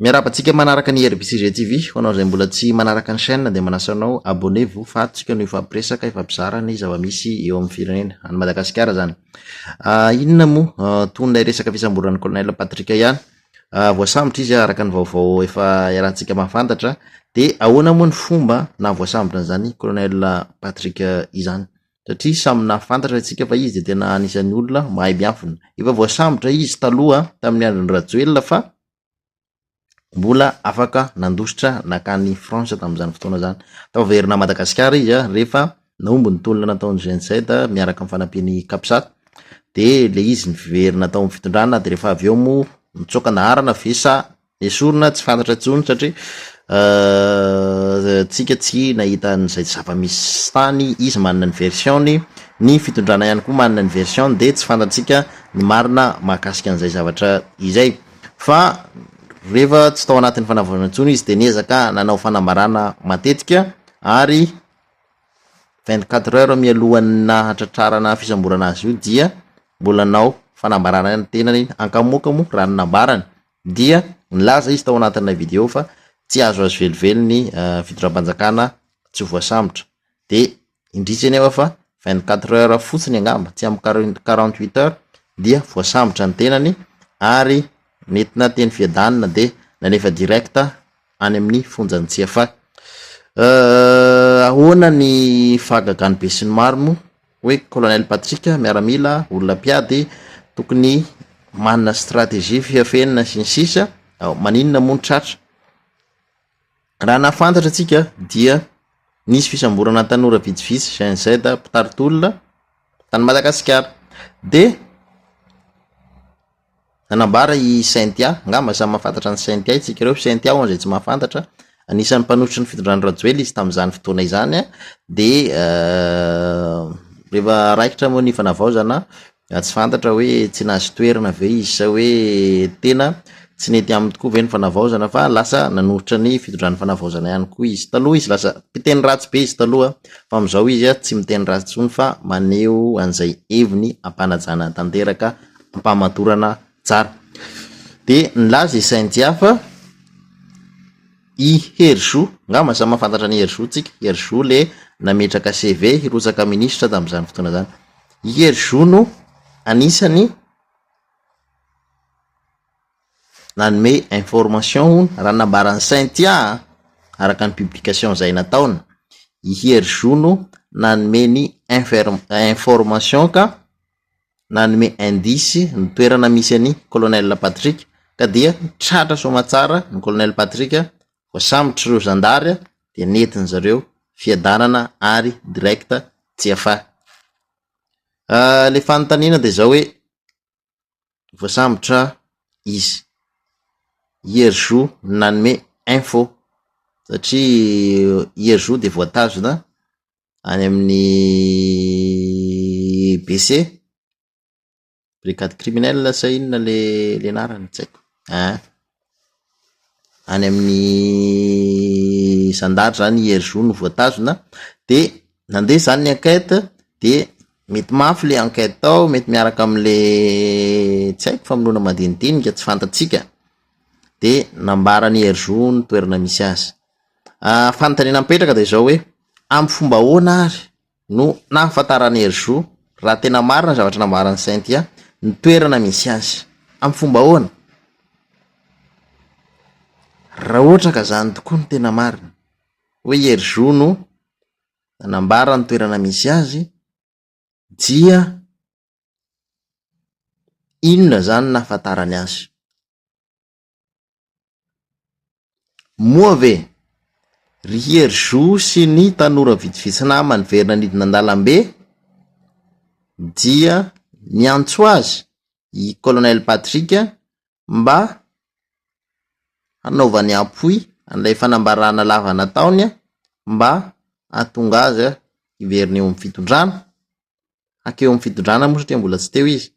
Miarahaba antsika manaraka ny RBCG TV, ho anao izay mbola tsy manaraka ny chaîne dia manasa anao abonnez vous fa tsika no hifampiresaka, hifampizara ny zava-misy eo amin'ny firenena, any Madagasikara izany. Ah, inona moa ah, toy ilay resaka fisamborana ny colonel Patrick ihany, ah, voasambotra izy araka ny vaovao efa iarahantsika mahafantatra, dia ahoana moa ny fomba na voasambotra an'izany colonel Patrick izany? satria samy nahafantatra antsika fa izy dia tena anisan'ny olona mahay miafina. Efa voasambotra izy taloha tamin'ny andron'i Rajoelina fa mbola afaka nandositra nakany France tamin'izany fotoana izany. Tao avy herinà Madagasikara izy rehefa nahomby ny tolona nataon'i GNZ miaraka amin'ny fanampian'ny Capsat dia ilay izy niverina tao amin'ny fitondrana dia rehefa avy eo moa nitsoaka naharana ve sa nesorina tsy fantatra intsony satria euh, tsika tsy nahita an'izay zava-misy tany izy manana ny version-ny ny fitondrana ihany koa manana ny version dia tsy fantatsika ny marina mahakasika an'izay zavatra izay. Fa rehefa tsy tao anatin'ny fanavaozana intsony izy dia niezaka nanao fanambarana matetika ary vingt quatre heures mialohan'ny nahatratrarana fisamborana azy io dia mbola nanao fanambarana ny tenany ankamoka moa raha ny nambarany dia nilaza izy tao anatin'ilay video fa tsy azo azo velively ny eh, fitondram-panjakana tsy voasambotra dia indrisy anefa fa vingt quatre heures fotsiny angamba tsy amin'ny quarante huit heures dia voasambotra ny tenany ary nentina teny fiadanana dia nanefa direct any amin'ny fonjan'ny tsiafa euh, ahoana ny fahagagany be sy ny maro moa hoe colonel Patrick miaramila olona mpiady tokony manana stratégie fihafenina sy ny sisa maninona moa ny tratra Raha nahafantatra antsika dia nisy fisamborana tanora vitsivitsy GIZ mpitari-tolona tany Madagasikara dia nanambara i Cynthia, angamba samy mahafantatra an'i Cynthia isika ireo, Cynthia ho an'izay tsy mahafantatra, anisan'ny mpanosotry ny fitondran'i Rajoelina izy tamin'izany fotoana izany dia rehefa raikitra moa ny fanavaozana Raha tsy fantatra hoe tsy nahazo toerana ve izy sa hoe tena tsy nety aminy tokoa ve ny fanavaozana fa lasa nanoritra ny fitondran'ny fanavaozana ihany koa izy. Taloha izy lasa mpiteny ratsy be izy taloha fa amin'izao izy tsy miteny ratsy intsony fa maneho an'izay heviny ampanajana tanteraka ampamatorana tsara. Dia nilaza i Saint Dia fa. I Hery Zo, ngamba samy mahafantatra an'i Hery Zo tsika, Hery Zo le nametraka CV hirotsaka ministra tamin'izany fotoana izany. I Hery Zo no anisany nanome information hono, raha ny nambaran'i Cynthia an, araka ny publication izay nataony, i Hery Zo no nanome ny infer-information ka. nanome indice ny toerana misy an'i Colonel Patrick ka dia tratra soamatsara ny Colonel Patrick, voasambotry ireo zandary dia nentin-dry zareo fiadanana ary direct GFA. Ilay fanontaniana dia izao hoe voasambotra izy, hier jour no nanome info satria hier jour dia voatazona any amin'ny BC, brigade criminelle sa inona le le anarany tsy haiko ah, any amin'ny zandary zany i Hery Zo no voatazona de nandeha zany ny enquête de mety mafy le enquête tao, mety miaraka amle tsy haiko famonoana madinidinika tsy fantatsika de nambaran'i Hery Zo ny toerana misy azy. Fanontaniana mipetraka dia izao hoe, amin'ny fomba ahoana ary no nahafantaran'i Hery Zo, raha tena marina ny zavatra nambaran'i Cynthia, ny toerana misy azy? Amin'ny fomba ahoana? Raha ohatra ka izany tokoa no tena marina, hoe i Hery Zo no nanambara ny toerana misy azy, dia inona izany no nahafantarany azy? Moa ve ry Hery Zo sy ny tanora vitsivitsy namany niverina nidina an-dalambe dia niantso azy i Colonel Patrick mba hanaovany appui an'ilay fanambarana lava nataony mba hahatonga azy hiverina eo amin'ny fitondrana? Hankeo amin'ny fitondrana moa satria mbola tsy teo izy.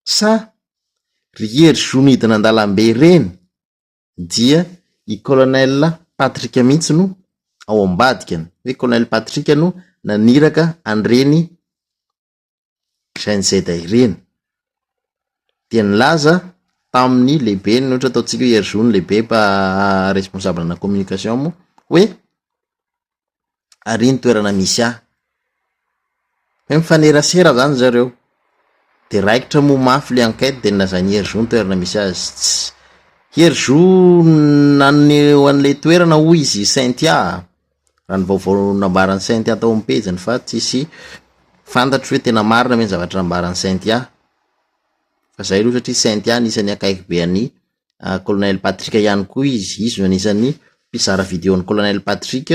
Sa ry hery zo midina an-dalambe ireny dia i colonel Patrick mihitsy no ao ambadika ny hoe colonel Patrick no naniraka an'ireny gnz ireny? Dia nilaza tamin'ny lehibeny ny ohatra ataontsika hoe hery zo ny lehibe mpa responsable ana communication moa hoe ary iny toerana misy ahy. Hoe mifanerasera zany zareo, de raikitra moa mafy le enquête de nolazain'i Hery Zo ny toerana misy azy, tsy, Hery Zo naneho an'le toerana hoy izy Cynthia a, raha ny vaovao nambaran'i Cynthia tao amin'ny pejiny fa tsisy fantatro hoe tena marina ve ny zavatra nambaran'i Cynthia, fa zay aloha satria Cynthia anisan'ny akaiky be an'i. Colonel Patrick ihany koa izy. Izy no anisan'ny mpizara video an'i Colonel Patrick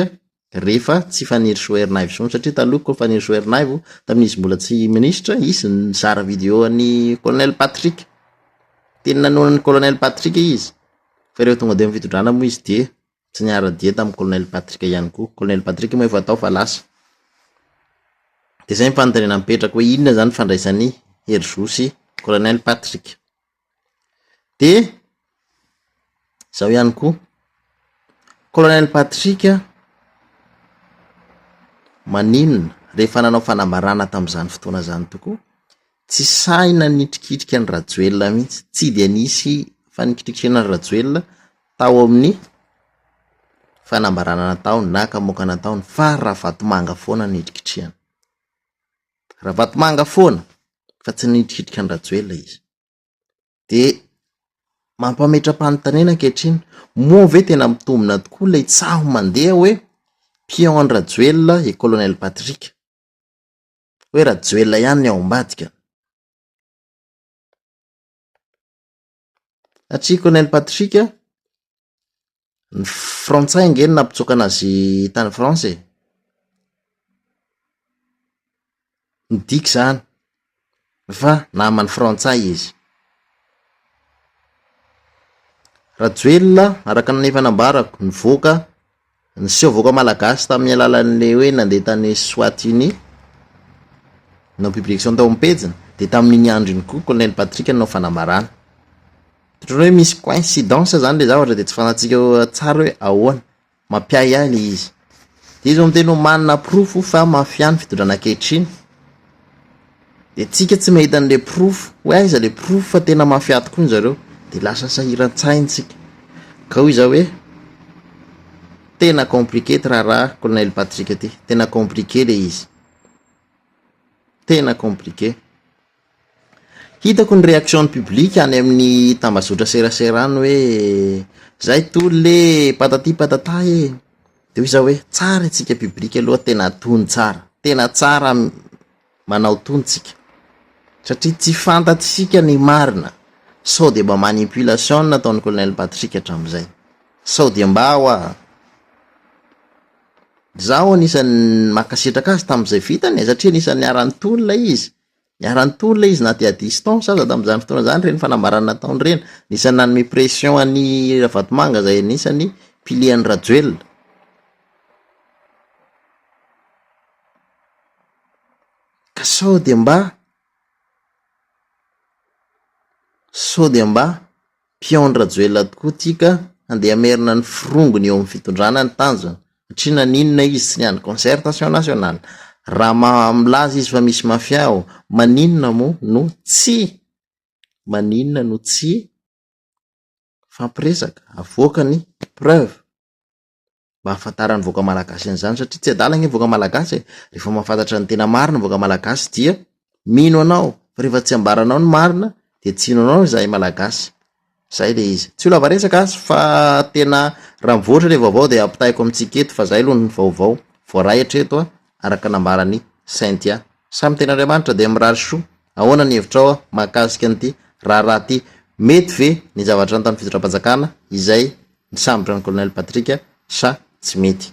rehefa tsy Fanirisoa Ernaivo intsony satria taloha koa Fanirisoa Ernaivo tamin'izy mbola tsy ministra, izy no nizara video an'i Colonel Patrick. Teny nanohana an'i Colonel Patrick izy fa rehefa tonga teo amin'ny fitondrana moa izy dia tsy niara-dia tamin'i Colonel Patrick ihany koa. Colonel Patrick moa efa tao fa lasa. Dia izay ny fanontaniana mipetraka hoe inona izany ifandraisan'i Hery Zo sy Colonel Patrick? de zao ihany koa colonel Patrick maninona rehefa nanao fanambarana tamin'izany fotoana izany tokoa tsy sahy nanitrikitrika an'i Rajoelina mihitsy, tsy dia nisy fanikitrikirana an'i Rajoelina tao amin'ny fanambarana nataony na kamoaka nataony fa Ravatomanga foana nitrikitrihana. Ravatomanga foana fa tsy nihitrikitrika an-dRajoelina izy. Dia mampametra-panontaniana ankehitriny, moa ve tena mitombina tokoa ilay tsaho mandeha hoe pion an-dRajoelina i Colonel Patrick? Hoe Rajoelina ihany ny ao ambadikany? Hatsiko Nen Patrick a, ny frantsay ange no nampitsoaka an'azy tany France e, midika izany fa naman'ny frantsay izy. Rajoelina araka ny efa nambarako nivoaka. Niseho vahoaka malagasy tamin'ny alalan'ilay hoe nandeha tany Eswatini, nanao publication tao amin'ny pejiny, dia tamin'iny andro iny koa Colonel Patrick nanao fanambarana. Ohatran'ny hoe misy coïncidence izany ilay zavatra dia tsy fantatsika tsara hoe ahoana, mampiahiahy ilay izy. Dia izy no miteny hoe manana porofo fa mafia ny fitondrana ankehitriny, Dia tsika tsy mahita an'ilay porofo hoe aiza ilay porofo fa tena mafia tokoa ny zareo dia lasa sahiran-tsainy tsika. Gao izaho hoe tena compliqué ity raharaha Colonel Patrick ity. Tena compliqué ilay izy. Tena compliqué. Hitako ny réaction ny public any amin'ny tambazotra serasera any hoe zay tolona e, patati patata e. Dia hoy izaho hoe tsara isika public aloha tena tony tsara. Tena tsara manao tony tsika satria tsy fantatsika ny marina sao dia mba manipulation no nataon'i colonel Patrick hatramin'izay sao dia mba hoa Izaho anisan'ny mankasitraka azy tamin'izay vitany e, satria anisan'ny niara-nitony ilay izy. Niara-nitony ilay izy na dia à distance aza tamin'izany fotoana izany ireny fanambarana nataony ireny. Anisan'ny nanome pression an'i Ravatomanga izay anisan'ny piliers an'i Rajoelina. Ka sao dia mba, sao dia mba mpihaon Rajoelina tokoa ity ka handeha hamerina ny firongony eo amin'ny fitondrana ny tanjona satria naninona izy tsy niandry concertation nationale raha maha milaza izy fa misy mafia ao maninona moa no tsy maninona no tsy mifampiresaka avoaka ny preuve. mba hahafantaran'ny vahoaka malagasy an'izany satria tsy adala anie ny vahoaka malagasy e! rehefa mahafantatra ny tena marina ny vahoaka malagasy dia mino anao fa rehefa tsy ambaranao ny marina dia tsy hino anao izahay malagasy, izay ilay izy, tsy ho lava resaka aho fa tena raha mivoatra ilay vaovao dia ampitahaiko amintsika eto fa izahay aloha ny vaovao voaray hatreto araka ny nambaran'i Cynthia. Samy Tenin'Andriamanitra dia mirary soa. Ahoana ny hevitrao mahakasika an'ity raharaha ity? Mety ve ny zavatra nataon'ny fitondram-panjakana izay nisambotra an'i Colonel Patrick sa tsy mety?